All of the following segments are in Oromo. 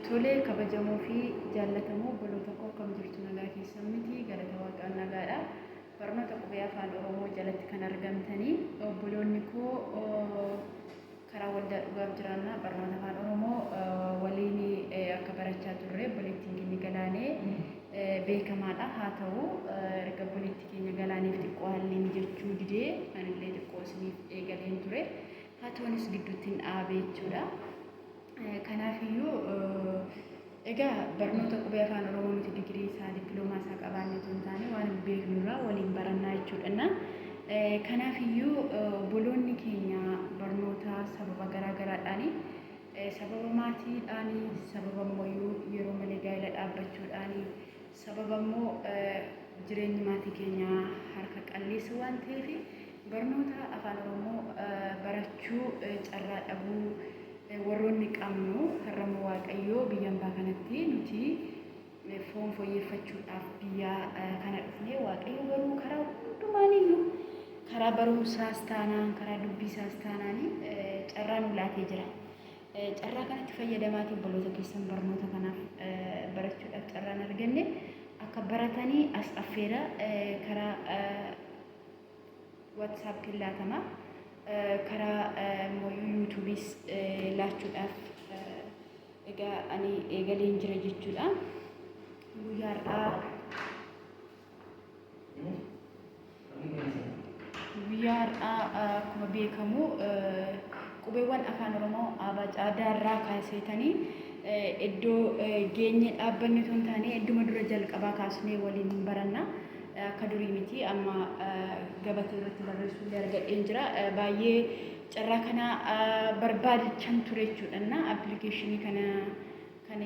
Tole kabajamoo fi jaallatamoo obboloota koo akkam jirtu nagaa keessan miti galata waaqaan nagaadha barnoota qubee afaan oromoo jalatti kan argamtanii obboloonni koo karaa waldaa dhugaaf jiraannaa barnoota afaan oromoo waliin akka barachaa turre obboleettiin keenya galaanee beekamaadha haa ta'u erga obboleetti keenya galaaneef xiqqoo haalli mijachuu didee anillee xiqqoo isiniif eegaleen ture haa ta'unis gidduutti hin dhaabe jechuudha. Kanaaf iyyuu egaa barnoota qubee afaan oromoo nuti digirii isaa dippiloomaa isaa qabaannee otoo hin taane waanuma beeknu irraa waliin barannaa jechuudhanna. Kanaaf iyyuu obboloonni keenya barnoota sababa garaa garaadhaani sababa maatiidhaani sababa immoo yeroo malee gaa'ela dhaabbachuudhaani Sababa immoo jireenyi maatii keenyaa harka qalleessa waan ta'eef barnoota Afaan Oromoo barachuu carraa dhabuu warroonni qabnu har'a immoo Waaqayyoo biyya ambaa kanatti nuti foon foyyeeffachuudhaaf biyya kana dhufnee Waaqayyoo garuu karaa hundumaaniyyuu karaa barumsaas taanaan karaa dubbiisaas taanaan carraa nu laatee jira. Carraa kanatti fayyadamaatii obboloota keessan barnoota kanaaf barachuudhaaf carraan arganne akka baratanii as affeera karaa waatsaappiin laatama karaa immoo yuutuubiis laachuudhaaf egaa ani eegaleen jira jechuudha guyyaa har'aa Guyyaa har'aa akkuma beekamu qubeewwan afaan Oromoo aabaa caadaa irraa kaaseetanii iddoo geenye dhaabbanni osoo hin taane idduma dura jalqabaa kaasnee waliin hin baranna. Akka durii miti amma gabatee irratti barreessuu illee argadheen jira. Baay'ee carraa kana barbaadichan ture jechuudha. Appilikeeshinii kana kan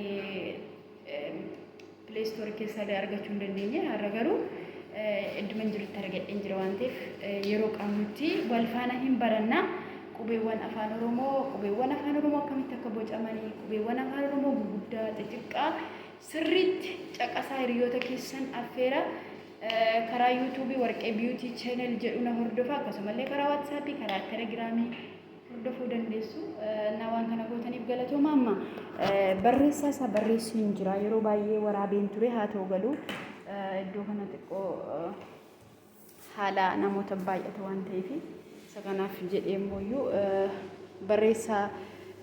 Play store keessaa illee argachuu hin dandeenye har'a garuu idduman jirutti argadheen jira waan ta'eef yeroo qabnutti wal faana hin baranna qubeewwan afaan oromoo qubeewwan afaan oromoo akkamitti akka bocamanii qubeewwan afaan oromoo guguddaa xixiqqaa sirriitti caqasaa hiriyoota keessan affeera karaa yuutuubii warqee biyuutii cheenel jedhu na hordofa akkasumallee karaa waatsaappii karaa telegiraamii hordofuu dandeessu. Naa waan kana gootaniif galatooma amma barreessaa isaa barreessuun jira. Yeroo baay'ee waraabeen ture haa ta'u galuu iddoo kana xiqqoo haala namoota baay'ata waan ta'eef isa kanaaf jedhee immoo iyyuu barreessaa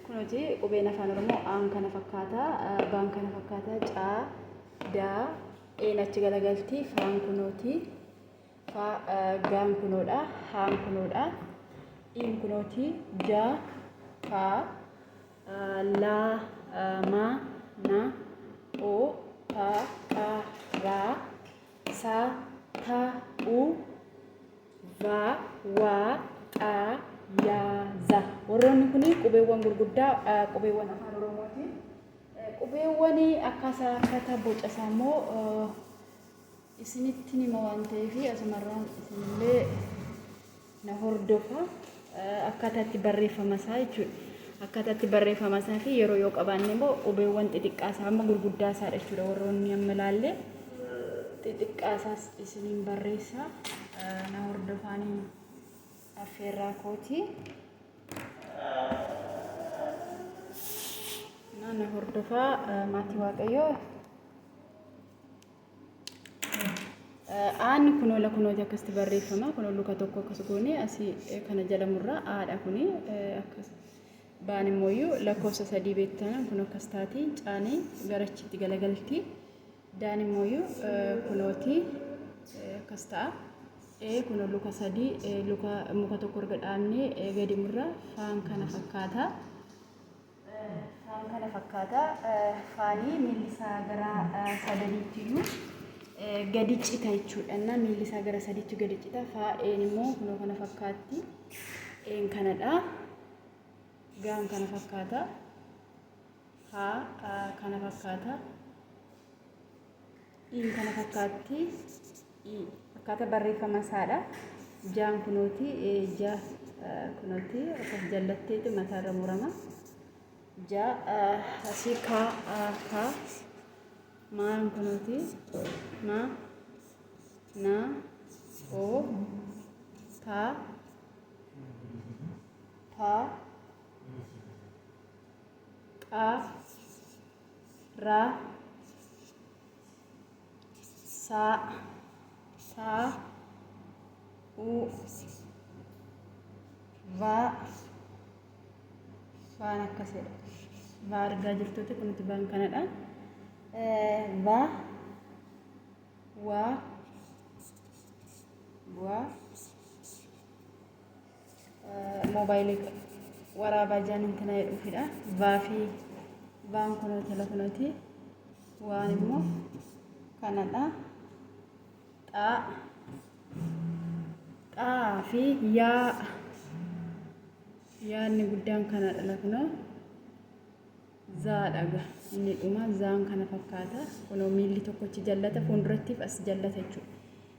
kunuuti qubeen afaan oromoo aan kana fakkaata baan kana fakkaata caa daa een achi galagaltii faan kunuuti ffaa Gaan kunoodha. Haan kunoodha. Iin kunooti. Ja, fa, la, ma, na, o, pa, pa, ra, sa, ta, u, va, wa, qa, ya, za. Warroonni kun qubeewwan gurguddaa qubeewwan afaan Oromooti. Qubeewwan akkaataa akkaataa boca isaa immoo isinittin hima waan ta'eef asumarraan isinillee na hordofa akkaataa itti barreeffama isaa jechuudha. Akkaataa itti barreeffama isaa fi yeroo yoo qabaanne immoo qubeewwan xixiqqaa isaa amma gurguddaa isaadha jechuudha warroonni amma ilaalle xixiqqaa isaas isiniin barreessa na hordofaanii affeerraa kooti. Na hordofaa maatii waaqayyoo. Aan kunoo la kunoo akkasitti barreeffama kunoo luka tokko akkas goone asii kana jala murraa aadha kuni akkas baan immoo lakkoofsa sadii beektanan kun akkas taati caanii garachitti galagalti daan immoo kunooti akkas ta'a. Ee kun luka sadii luka muka tokko erga dhaabnee gadi murraa faan kana fakkaata. Waan kana fakkaata. Faanii miilli isaa gara sadaniitti iyyuu gadi cita jechuudha. Innaa miilli isaa gara sadiitti gadi cita. Faa'een immoo kunoo kana fakkaatti. Een kanadha. Gaan kana fakkaata. Haa kana fakkaata. Iin kana fakkaatti akkaataa barreeffama isaadha. Jaan kunooti ja kunooti akkas jallatteeti mataarra murama. Ja asii kaa kaa maan kunooti ma na o ta ta qa ra sa sa u va vaan akkas jedha va argaa jirtuuti kuniti vaan kanadha va wa wa moobaayilii waraabaa jaan intina jedhuufidha. Vaa fi vaan kunoo telefonooti. Waan immoo kanadha. Xaa xaa fi yaa yaadni guddaan kanadha lakunoo. Zaadha ga inni dhuma zaan kana fakkaata. Kunoo miilli tokkochi jallata fuuldurattiif as jallata jechuudha.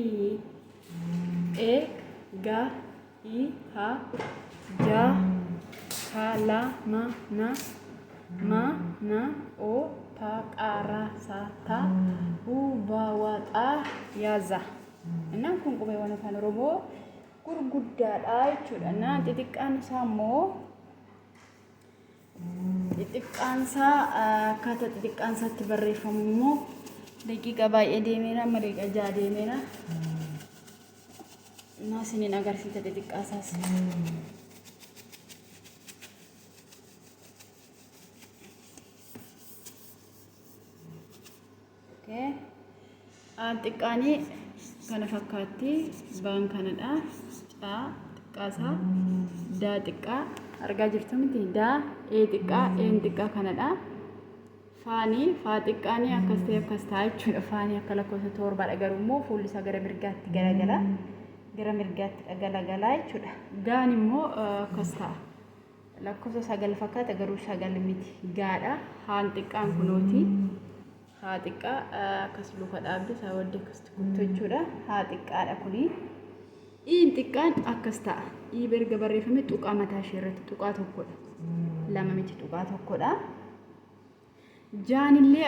i e ga i ha ja ka la ma na ma na o ta qa ra sa ta u va wa xa ya za Innaan kun qubeewwan afaan Oromoo gurguddaadha jechuudha. Innaan xixiqqaan isaa immoo Xixiqqaansaa akkaataa xixiqqaansaatti barreeffamu immoo daqiiqa baay'ee deemeera amma daqiiqa ja'a deemeera. Naa isiniin agarsiisa xixiqqaasaas. Okay. Aan xiqqaanii kana fakkaatti baan kanadha. Caa xiqqaasaa daa xiqqaa argaa jirtu miti daa ee xiqqaa een xiqqaa kanadha. Faanii faa xiqqaanii akkas ta'e akkas ta'a jechuudha. Faanii akka lakkoofsa torbaadha garuu immoo fuulli isaa gara mirgaatti garagala. Gara mirgaatti galagala jechuudha. Gaan immoo akkas ta'a. Lakkofsa sagal fakkaata garuu sagal miti gaadha. Haan xiqqaan kunooti. Haa xiqqaa akkas luka dhaabde isaa wadde akkasitti kuttu jechuudha. Haa xiqqaadha kuni. Iin xiqqaan akkas ta'a. Ii berga barreeffame tuqaa mataa ishee irratti tuqaa tokkodha. Lama miti tuqaa tokkodha. Jaanillee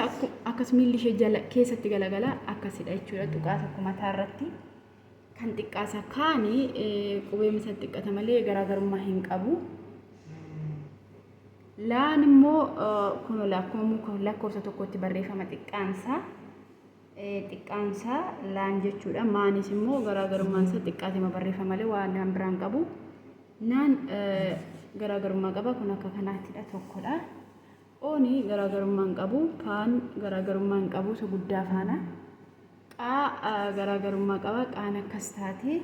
akkas miilli ishee jala keessatti galagala akkasidha jechuudha tuqaa tokko mataa irratti kan xiqqaasa kaani qubee misa xiqqata malee garaagarummaa hin qabu. Laan immoo kun akkuma muka lakkoofsa tokkotti barreeffama xiqqaansaa xiqqaansaa laan jechuudha maanis immoo garaagarummaansa xiqqaatima barreeffama malee waan naan biraan qabu naan garaagarummaa qaba kun akka kanaatidha tokkodha. Oon garaagarummaa hin qabu. Kaan garaagarummaa hin qabu isa guddaa faana. Qaa garaagarummaa qaba. Qaan akkas taati.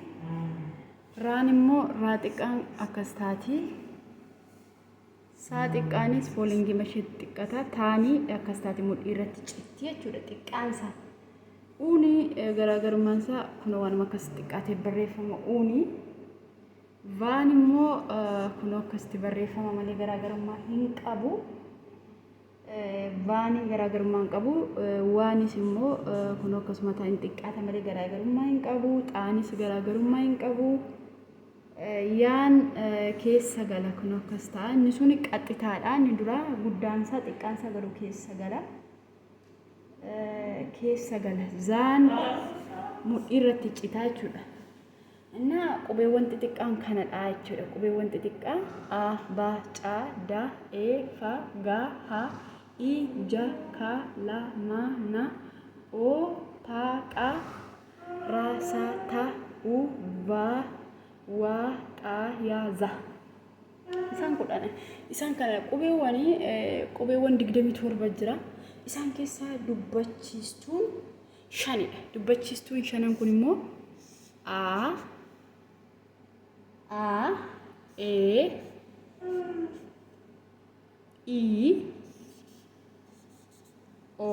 Raan immoo raa xiqqaan akkas taati. Saa xiqqaanis foolingii masheetti xiqqata. Taanii akkas taati mudhii irratti citti jechuudha xiqqaan isaa. Uuni garaagarummaan isaa kun waanuma akkas xiqqaatee barreeffama uuni. Vaan immoo kunoo akkasitti barreeffama malee garaagarummaa hin qabu. Vaaniin garaagarummaa hin qabu. Waanis immoo kunoo akkasuma ta'a hin xiqqaata malee garaagarummaa hin qabu. Xaanis garaagarummaa hin qabu. Yaan keessa gala kunoo akkas ta'a. Inni sun qaxxitaadha. Inni duraa guddaansaa xiqqaansaa garuu keessa gala. Keessa gala. Zaan mudhii irratti citaa jechuudha. እና qubeewwan xixiqqaan kana dha jechuudha. Qubeewwan xixiqqaa A, B, C, D, E, F, G, H, I, J, K, L, M, N, O, P, Q, R, S, T, U, V, W, X, Y, Z. Isaan kudhan. Isaan kana qubeewwan qubeewwan digdamii torba jira. Isaan keessaa dubbachiistuun shanidha. Dubbachiistuun shanan kun immoo A, A, E, I, O,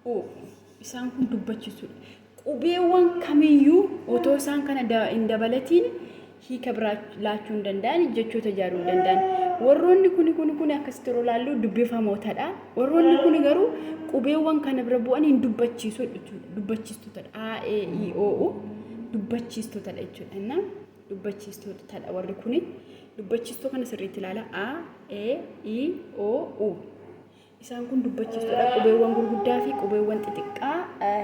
U. Isaan kun dubbachiistuudha. Qubeewwan kamiyyuu otoo isaan kana hin dabalatiin hiika biraa laachuu hin danda'an, jechoota ijaaruu hin danda'an. Warroonni kuni kuni kuni akkasitti yeroo ilaallu dubbifamootadha. Warroonni kuni garuu qubeewwan kana bira bu'anii hin dubbachiisu jechuudha. Dubbachiistotadha. A, E, I, O, U dubbachiistotadha jechuudha. Innaa dubbachiistotadha warri kuni. Dubbachiistoo kana sirriitti ilaala. A, E, I, O, U. Isaan kun dubbachiistodha. Qubeewwan gurguddaa fi qubeewwan xixiqqaa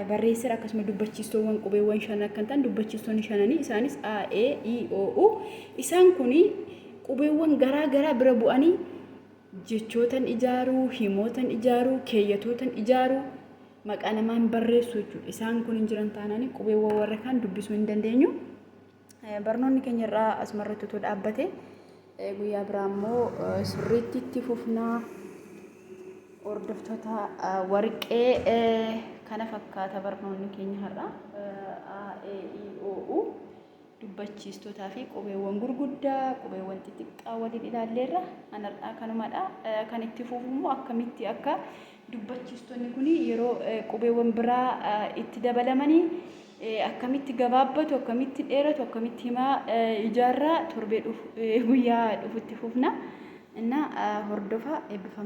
barreesseera akkasuma dubbachiistoowwan qubeewwan shan akka hin ta'an dubbachiistoonni shananii isaanis A, E, I, O, U. Isaan kun qubeewwan garaa garaa bira bu'anii jechootan ijaaruu, himootan ijaaruu, keeyyatootan ijaaruu, maqaa namaan barreessuu jechuudha. Isaan kun hin jiran taanaan qubeewwan warra kaan dubbisuu hin dandeenyu. Barnoonni keenya irraa asumarratti utuu dhaabbate guyyaa biraa immoo sirriitti itti fufnaa hordoftoota warqee kana fakkaata barnoonni keenya har'a A, E, I, O, U dubbachiistootaa fi qubeewwan gurguddaa qubeewwan xixiqqaa waliin ilaalleerra kan har'aa kanumadha kan itti fufu immoo akkamitti akka Dubbachiistonni kun yeroo qubeewwan biraa itti dabalamanii akkamitti gabaabbatu, akkamitti dheeratu, akkamitti himaa ijaarraa torbee dhufu, guyyaa dhufu itti fufna. Innaa hordofaa eebbifamaa.